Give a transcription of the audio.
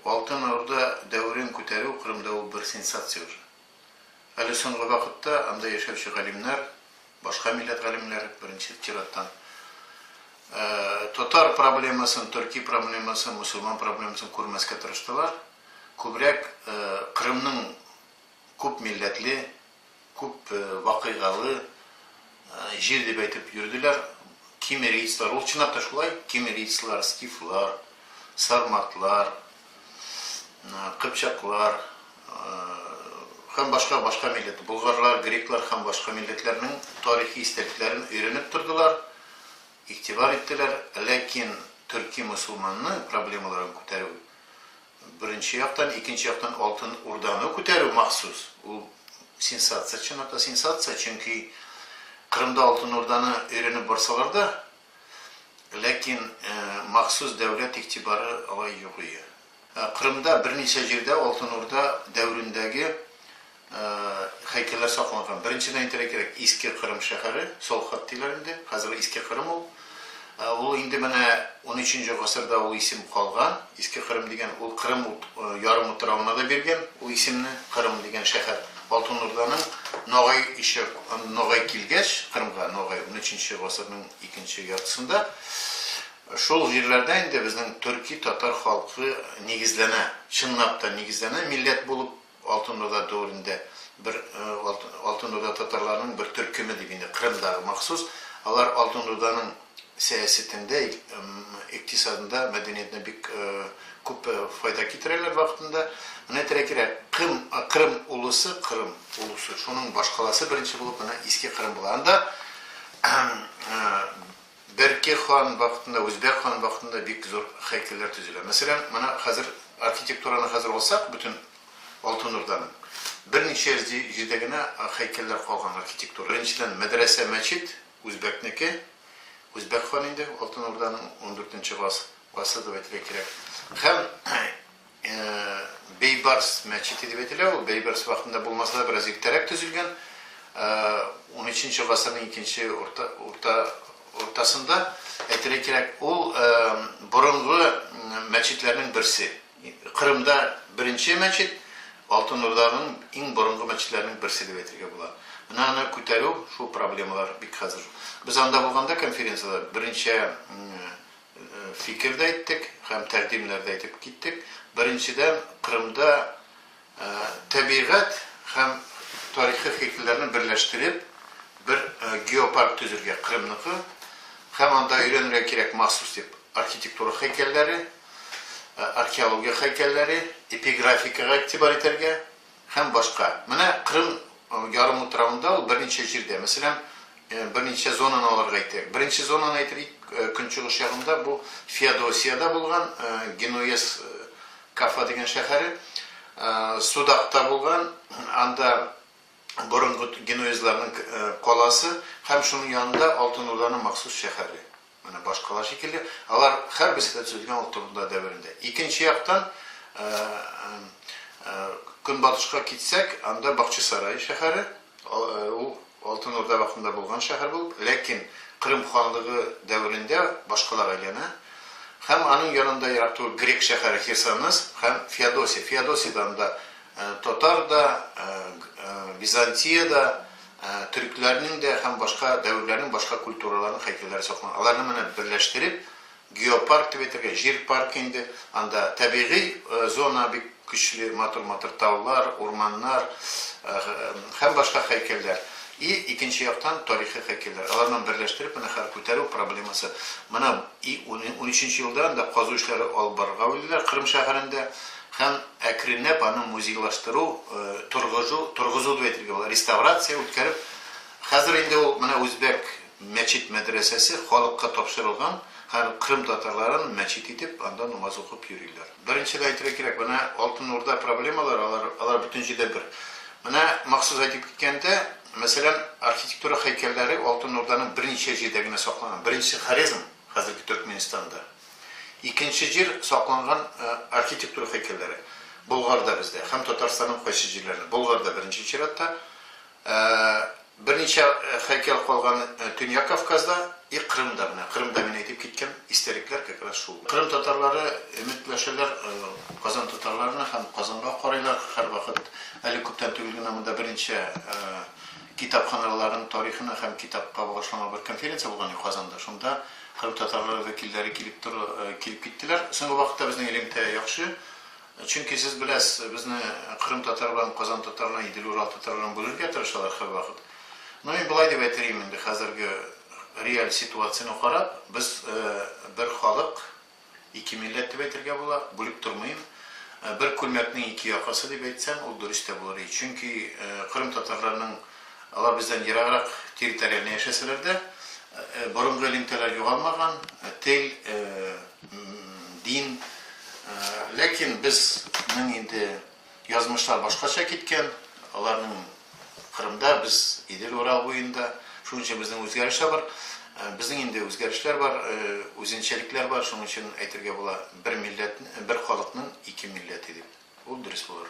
Алтын Орда дәверен күтәрү Кырымда ул бер сенсация уже. Әле соңгы вакытта анда яшәүче галимнәр, башка милләт галимнәре, беренче чираттан, татар проблемасын, төрки проблемасын, мөселман проблемасын күрмәскә тырыштылар, күбрәк Кырымның күп милләтле, Күп вакыйгалы җир дип әйтеп йөрделәр. Кимерийцлар, ул чынлап та шулай, кимерийцлар, скифлар, сарматлар, кыпчаклар һәм башка, башка милләт, болгарлар, греклар һәм башка милләтләрнең тарихи истәлекләрен өйрәнеп тордылар, игътибар иттеләр, ләкин төрки-мөселманның проблемаларын күтәрү Беренче яктан, икенче яктан Алтын Урданы күтәрү махсус, ул сенсация, чынлап сенсация, чөнки Кырымда Алтын Урданы өйрәнеп барсалар да, ләкин махсус дәүләт игътибары алай юк ие. Кырымда берничә җирдә Алтын Урда дәверендәге Һәйкәлләр сакланган. Беренчедән әйтергә кирәк, Иске Кырым шәһәре, Солхат диләр инде, хәзерге Иске Кырым ул. Ул инде менә унөченче гасырда ул исем калган. Иске Кырым дигән ул Кырым ярым утравына да биргән ул исемне, Кырым дигән шәһәр. Алтын Урданың Ногай ише Ногай килгәч, Кырымга Ногай унөченче гасырның икенче яртысында шул җирләрдә инде безнең төрки-татар халкы нигезләнә, чынлап та нигезләнә, милләт булып Алтын Урда дәверендә бер Алтын Урда татарларының бер төркеме дип инде Кырымдагы махсус, алар Алтын Урданың сәясәтендә, икътисадында, мәдәниятенә бик күп файда китерәләр вакытында. Менә терәкирәк Кым, Кырым улысы, Кырым улысы, шуның башкаласы беренче булып менә Иске Кырым була. Анда Берке хан вакытында, үзбәк хан вакытында бик зур һәйкәлләр төзелә. Мәсәлән, менә хәзер архитектураны хәзер алсак, бөтен Алтын Урданың, берничә җирдә генә һәйкәлләр калган архитектура. Беренчедән, мәдрәсә, мәчет, үзбәкнеке, үзбәк ханы инде, Алтын Урданың, ундүртенче гасыр дип әйтергә кирәк. Һәм. Бейбарс мәчете дип әйтелә ул. Бейбарс вакытында булмаса да, бераз иртәрәк төзелгән. Унөченче гасырның икенче уртасында, әйтергә кирәк, ул борынгы мәчетләрнең берсе. Кырымда беренче мәчет, Алтын Урданың иң борынгы мәчетләренең берсе дип әйтергә була. Менә аны күтәрү, шул проблемалар бик хәзер. Без анда булганда конференциядә берничә фикер дә әйттек һәм тәкъдимнәр дә әйтеп киттек. Беренчедән, Кырымда тәбигать һәм тарихи хикмәтләрне берләштереп, бер геопарк төзергә, Кырымныкы һәм анда өйрәнергә кирәк махсус дип архитектура һәйкәлләре, археология һәйкәлләре, эпиграфикага игътибар итәргә. Һәм башка. Менә Кырым ярымутравында ул берничә җирдә, мәсәлән, берничә зонаны алырга әйтәйек. Беренче зонаны әйтелик, көнчыгыш ягында бу Феодосиядә булган, Генуэз Кафа дигән шәһәре, Судакта булган, анда борынгы генуэзларның каласы һәм шуның янында Алтын Урданың махсус шәһәре. Менә башкалар шикелле, алар һәрберсе дә төзелгән ул турында дәверендә. Икенче яктан, көнбатышка китсәк, анда Бакчасарай шәһәре, ул Алтын Урда вакытында булган шәһәр булып, ләкин Кырым ханлыгы дәверендә башкалага әйләнә. Һәм аның янында ерак түгел грек шәһәре Херсонес һәм Феодосия. Феодосиядә анда татар да, Византия дә, Төрекләрнең дә һәм башка дәверләрнең башка культураларның һәйкәлләре сакланган. Аларны менеп берләштереп, геопарк дип әйтергә, җир паркы инде. Анда табигый зона бик көчле, матур-матур таулар, урманнар һәм башка һәйкәлләр. И икенче яктан тарихи һәйкәлләр. Аларны берләштереп менә хәзер күтәрү проблемасы. Менә и унөченче елда анда казу эшләре алып барырга уйлыйлар Кырым шәһәрендә. Һәм әкренләп аны музейлаштыру, торгыжу, торгызу дип әйтергә була, реставрация үткәреп, хәзер инде ул менә үзбәк мәчет-мәдрәсәсе халыкка тапшырылган, һәм кырым татарларын мәчет итеп, анда намаз укып йөриләр. Беренче дә әйтергә кирәк, менә Алтын Урда проблемалары, алар, алар бөтен җирдә бер. Менә махсус әйтеп киткәндә, мәсәлән, архитектура һәйкәлләре Алтын Урданың берничә җирдә генә сакланган. Беренчесе, Хорезм, хәзерге Төркменстанда. Икенче җир, сакланган архитектура һәйкәлләре. Болгарда бездә һәм Татарстанның кайсы җирләрендә, Болгарда беренче чиратта, берничә һәйкәл калган Төньяк Кавказда и Крымда, менә Крымда мин әйтеп киткән истәлекләр как раз шул. Крым татарлары өметләшәләр Казан татарларына һәм Казанга карыйлар һәрвакыт. Әле күптән түгел генә монда берничә Китапханаларның тарихына һәм китапка багышланган бер конференция булган иде Казанда. Шунда кырым татарлары вәкилләре килеп тор, килеп киттеләр. Соңгы вакытта безнең элемтә яхшы. Чөнки сез беләсез, безне кырым татарларын, казан татарларын, идел урал татарларын бүлергә тырышалар һәрвакыт. Ну, мин болай дип әйтер идем инде, хәзерге реаль ситуацияне карап, без бер халык. Ике милләт дип әйтергә була, бүлеп тормыйм. Бер күлмәкнең ике якасы дип әйтсәң, ул дөрес тә булыр иде. Чөнки кырым татарларының алар бездән ераграк территориальне яшәсәләр дә, борынгы элемтәләр югалмаган, тел, дин. Ләкин без, мин инде. Язмышлар башкача киткән, аларның Кырымда, без Идел, Урал буенда. Шуның өчен безнең үзгәрешләр бар. Безнең инде үзгәрешләр бар, үзенчәлекләр бар, шуның өчен әйтергә була, бер милләт, бер халыкның ике милләте дип. Ул дөрес булыр.